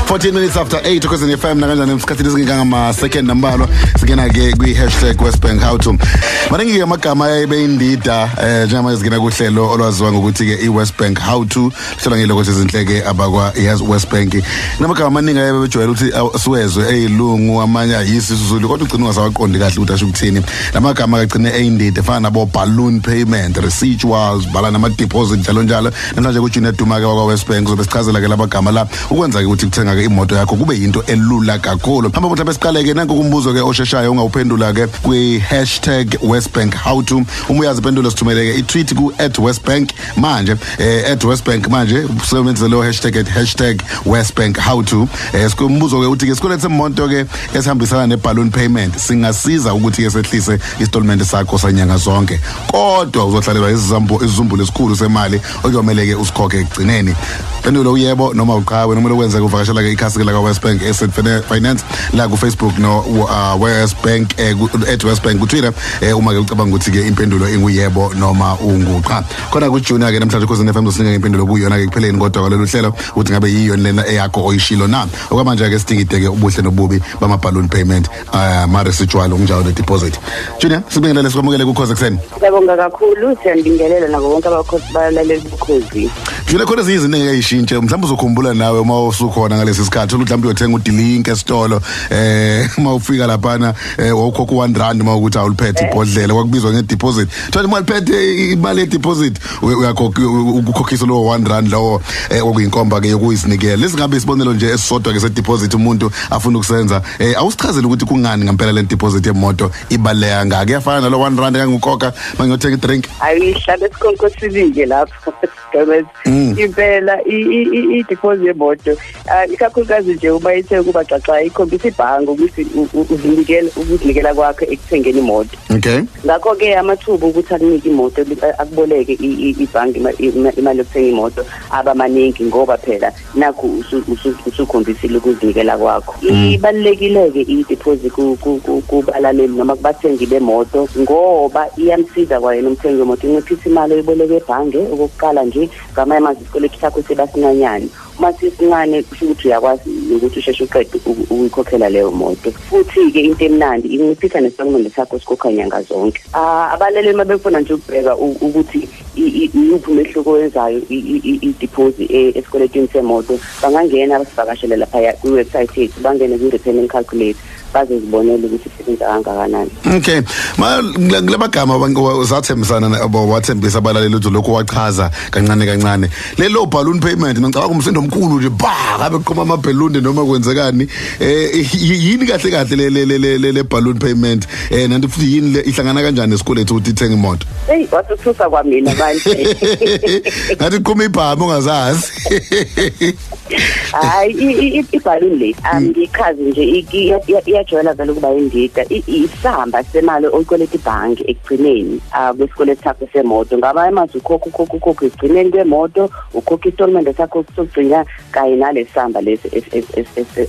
14 minutes after 8 okhwezini fm nakanjani esikhathini esingekangama-second nambalwa singena ke kwi-hashtag westbank how to maningi-ke amagama ayebeyindida um eh, njengamanje singena kuhlelo olwaziwa ngokuthi-ke i-westbank how to hlala ngile ukuthi izinhleke abakwa yes West Bank namagama amaningi aye bejwayele ukuthi siwezwe eyilungu amanye ayisi sizulu kodwa ugcina ungasawaqondi kahle ukuthi asho ukuthini lamagama kagcine eyindidi efana nabo balloon payment residuals bhala nama deposit njalo njalo namhlanje ku Junior Duma ke wakwa West Bank uzobe sichazela ke laba gama la ukwenza ke ukuthi kuthenga ke imoto yakho kube yinto elula kakhulu hamba mutha besiqale ke nanku kumbuzo ke osheshayo ungawuphendula ke kwi hashtag West Bank how to uma uyazi pendulo sithumele ke i tweet ku @westbank manje eh, at westbank manje usebenzise leyo hashtag at hashtag westbank how to eh, sikumbuzo-ke ukuthi ke sikweleti semonto-ke esihambisana ne-balloon payment singasiza ukuthi-ke sehlise isitolmente sakho sanyanga zonke kodwa uzohlalelwa isizumbulu esikhulu semali okuyomele-ke usikhokhe ekugcineni pendulo uyebo noma uqhawe noma lokwenza kuvakashela-ke ikhasi-ke lakawest bank asset finance la kufacebook no uh, west bank eh, at west bank kutwitter eh uma ke ucabanga ukuthi ke impendulo inguyebo noma unguqha khona ku junior ke namhlanje khosini FM sinika impendulo kuyona ke kupheleni kodwa kwalolu hlelo ukuthi ngabe yiyo lena eyakho oyishilo na okwamanje ke sidingideke ubuhle nobubi bama balloon payment uh, mare sijwalo kunjalo ne deposit junior sibingelele sikwamukele kukhoze ekseni siyabonga kakhulu siyandingelela nabo bonke abakhosi balaleli bukhozi junior khona ezinye izinto engeyishintshe mhlawumbe uzokhumbula nawe uma usukhona ngalesi sikhathi ukuthi mhlawumbe uyothenga udilinki esitolo eh uma ufika laphana eh wawukhokha 1 rand uma ukuthi awuliphethe ibhodlela kwakubizwa nge deposit thola imali phethe imali ye deposit uyakhokha ukukhokhisa lo 1 rand lawo eh okuyinkomba ke yokuyizinikela lesingabe isibonelo nje esisodwa ke se deposit umuntu afuna ukusenza eh awusichazele ukuthi kungani ngempela le deposit yemoto ibaleka ngake yafana nalo 1 rand kangukhokha mangiyothenga i drink ayihlale sikonko sibike lapho gabes mm. impela i-deposit yemoto ah, ikakhulukazi nje uma ithe ukuba xaxa ikhombisa ibhange ukuthi uzinikela ukuzinikela kwakho ekuthengeni imoto okay ngakho-ke amathuba ukuthi akunike imoto akuboleke ibhange imali yokuthenga imoto aba maningi ngoba phela nakhu usukhombisile ukuzinikela kwakho mm. ibalulekile-ke i-deposit kubalaleli noma kubathengi bemoto ngoba iyamsiza kwayena umthengi wemoto inciphisa imali oyiboleke ebhange okokuqala nje ngamanye amazwi isikweletu sakho siba sincanyane uma sisincane kusho ukuthi uyakwazi ukuthi usheshe uqede ukuyikhokhela leyo moto futhi-ke into emnandi inciphisa nesitatimende sakho sikhokha nyanga zonke ah, abalaleli uma befuna nje ukubheka ukuthi iyuphi umehluko wenzayo idiphozi e, esikweletini semoto bangangena abasivakashele laphaya kwi-website yethu bangene kwi-repayment calculate bazozibonela ukuthi isebenza kangakanani okay kula magama uzathembisana wathembisa abalaleli ukuthi lokhu wachaza kancane kancane lelo balloon payment ngicabanga umsindo omkhulu nje ba kabe kuqoma amabhelunde noma kwenzekani eh yini kahle kahle le le le balloon payment eh nanti futhi yini ihlangana kanjani esikoleni ukuthi ithenge imoto Hey wasuthusa kwamina manje. Ngathi qhuma ibhamu ungazazi. Hayi ibhaluni le angichazi mm. nje iyajwayela vele ukuba indida isihamba semali oyikweleta ibhange ekugcineni ah, kwesikweletu sakho semoto ngaba imazi ukhokha ukhokha ukhokha ekugcineni kwemoto ukhokha isitolimende sakho sokugcina kanye nalesihamba lesi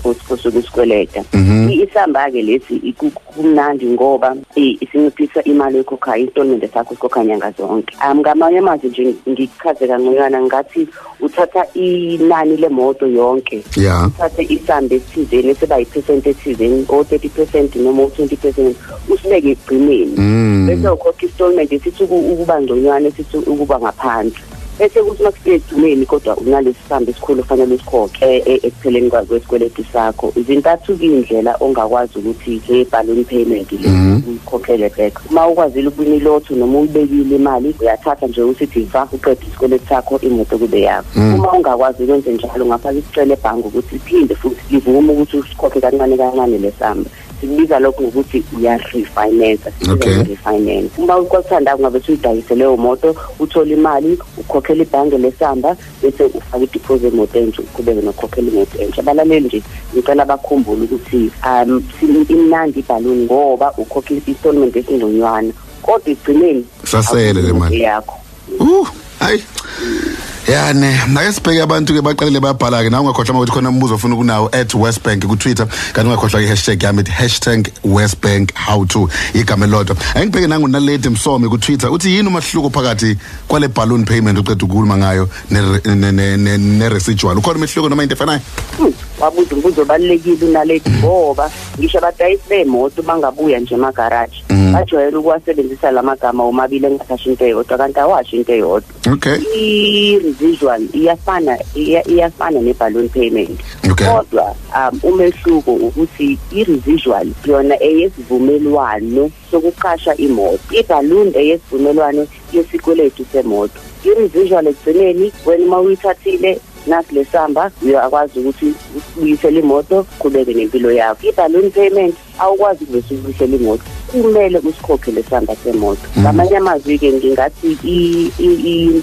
osuke usikweleta mhm. isihamba-ke lesi kumnandi ngoba isinciphisa imali ekhokhayo isitatimende sakho sikhokha nyanga zonke um ngamanye amazwi nje ngikuchaze kangconywana ngathi uthatha inani lemoto yonke yeah. uthathe isamba esithizeni esiba yiphesenti ethizeni o-thirty percent noma u-twenty percent usibeke ekugcineni mm. bese ukhokha isitatimende esithi ukuba ngconywana esithi ukuba ngaphansi bese kuthi makusedumeni kodwa unalesibambi esikhulu ofanele usikhokhe e, e, ekupheleni kwesikweletu sakho izintathu kuyindlela ongakwazi ukuthi ngeballoon payment le mhm. uyikhokhele back uma ukwazile ukubina ilotho noma uyibekile imali uyathatha nje usithi va uqeda isikweletu sakho imoto kube yakho mhm. uma ungakwazi ukwenze njalo ungafaka isicelo ebhange ukuthi iphinde futhi livume ukuthi usikhokhe kancane kancane lesamba sikubiza lokho ngokuthi uyarefinance okay. refinance uma kwakuthanda kungabe suyidayise leyo moto uthole imali ukhokhela ibhange lesamba bese ufaka ideposit emoto entsha uqhubeke nokhokhela imoto entsha abalaleli nje ngicela bakhumbule ukuthi um imnandi ibhaluni ngoba ukhokha i-installment esingconywana kodwa ekugcineni sasele le mali yakho Uh, hayi. Yani, make sibheke abantu ke baqalile bayabhala ke nawe ungakhohlwa ukuthi khona umbuzo ofuna ukunawo @westbank ku Twitter kanti ungakhohlwa i-hashtag yami hashtag #westbank how to igama elilodwa. Engibheke nangu naledi Msomi ku Twitter uthi yini umahluko phakathi kwale balloon payment uqeda ukukhuluma ngayo ne ne- ne- ne- ne residual. Ukhona umehluko noma into efanayo? wabuza umbuzo obalulekile unaledi ngoba ngisho abadayisi bemoto bangabuya nje emagaraji Mm. bajwayele ukuwasebenzisa la magama womabili engasasho into eyodwa kanti awasho into eyodwa okay i-residual iyafana iya- iyafana ne-balloon payment Okay. kodwa um umehluko ukuthi i-residual yona eyesivumelwano sokuqasha imoto i-balloon eyesivumelwano yesikweletu semoto i-residual ekugcineni wena uma uyithathile nasi lesamba uyakwazi ukuthi ubuyisele imoto qhubeke nempilo yakho i-balloon payment awukwazi ukuvesa ukufihlela imoto kumele usikhokhe lesamba semoto mm. ngamanye amazwi-ke ngingathi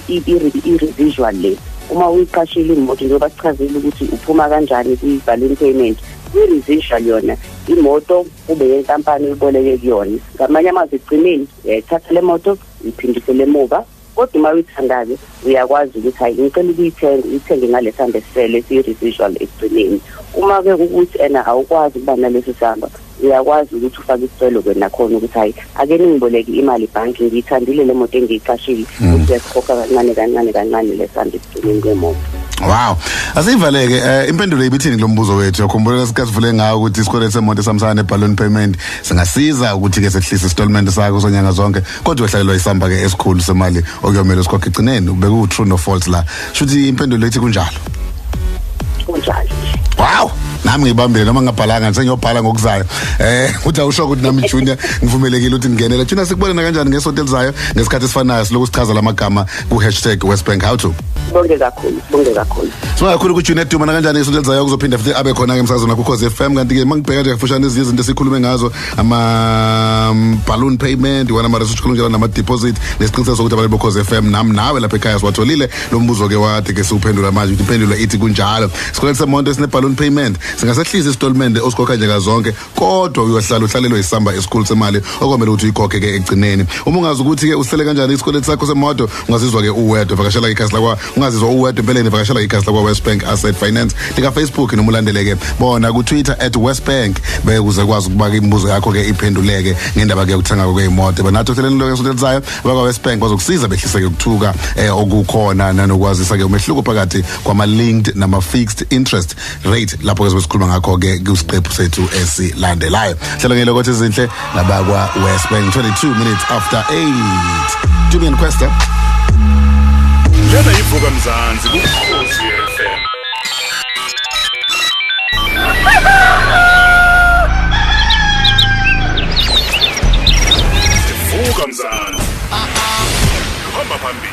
i-revisual le uma uyiqashile imoto njengoba sichazile ukuthi uphuma kanjani kwi-balloon payment i-residual yona imoto kube yenkampani uyiboleke kuyona ngamanye amazwi ekugcineni uyayithatha le moto uyiphindisele emuva kodwa uma uyithandayo uyakwazi ukuthi hayi ngicela ukuyithenga uyithenge ngale samba esisele esiyi-residual ekugcineni uma-ke ukuthi ena awukwazi ukuba nalesi samba uyakwazi ukuthi ufake isicelo ke nakhona ukuthi hayi ake ningiboleke imali ibhanki ngiyithandile le moto engiyiqashile hmm. ukuthi uyasikhokha kancane kancane kancane le samba ekugcineni kwemoto Wow. Asivaleke eh impendulo ibithini kulombuzo wethu. Yakhumbula sikasivule ngawo ukuthi isikweletu semonto samsana ne balloon payment singasiza ukuthi ke sehlise installment sakho sonyanga zonke. kodwa uhlakelwa isamba ke esikhulu semali okuyomela usikhokhe igcineni beku true no false la shuthi impendulo ethi kunjalo kunjalo wow nami ngibambile noma ngingabhalanga sengiyobhala ngokuzayo eh uthi awusho ukuthi nami junior ngivumelekile ukuthi ngingenela junior sikubonana kanjani ngesonto elizayo ngesikhathi esifanayo siloku sichaza lamagama ku #westbank how to bonke kakhulu bonke kakhulu sibonga kakhulu ukuthi junior duma kanjani ngesonto elizayo kuzophinda futhi abe khona ke emsazweni wakho cause FM kanti ke mangibheka nje kafushane izinto esikhulume ngazo ama um, balloon payment iwona ama research kunjalo nama deposit nesiqiniseko sokuthi abantu bokhoze FM nam nawe lapha ekhaya siwatholile lo mbuzo ke wade ke siwuphendula manje ukuthi impendulo ithi kunjalo sikweleta semonto esine balloon payment singasehlisa isitolmende osikhokha nje kazonke kodwa uyohlala uhlalelwe isamba esikhulu semali okomele ukuthi uyikhokhe ke ekugcineni uma ungazi ukuthi ke usele kanjani isikweleti sakho semoto ungazizwa ke uwedwa vakashela ikhasi lakwa ungazizwa uwedwa empeleni vakashela ikhasi lakwa West Bank Asset Finance lika Facebook noma ulandeleke bona ku Twitter @westbank bekuze kwazi ukubaka imibuzo yakho ke iphenduleke ngendaba ke yokuthenga ke imoto banathi ohleleni lokho esonelizayo bakwa West Bank bazokusiza behlise ke ukuthuka eh, okukhona nanokwazisa ke umehluko phakathi kwama linked nama fixed interest right lapho ke sikhuluma ngakho ke kusiqephu sethu esilandelayo hlelo ngelo kothi izinhle nabakwa West Bank 22 minutes after 8 Julian Questa Lena ivuka mzansi kukhosi FM Vuka mzansi Hamba phambili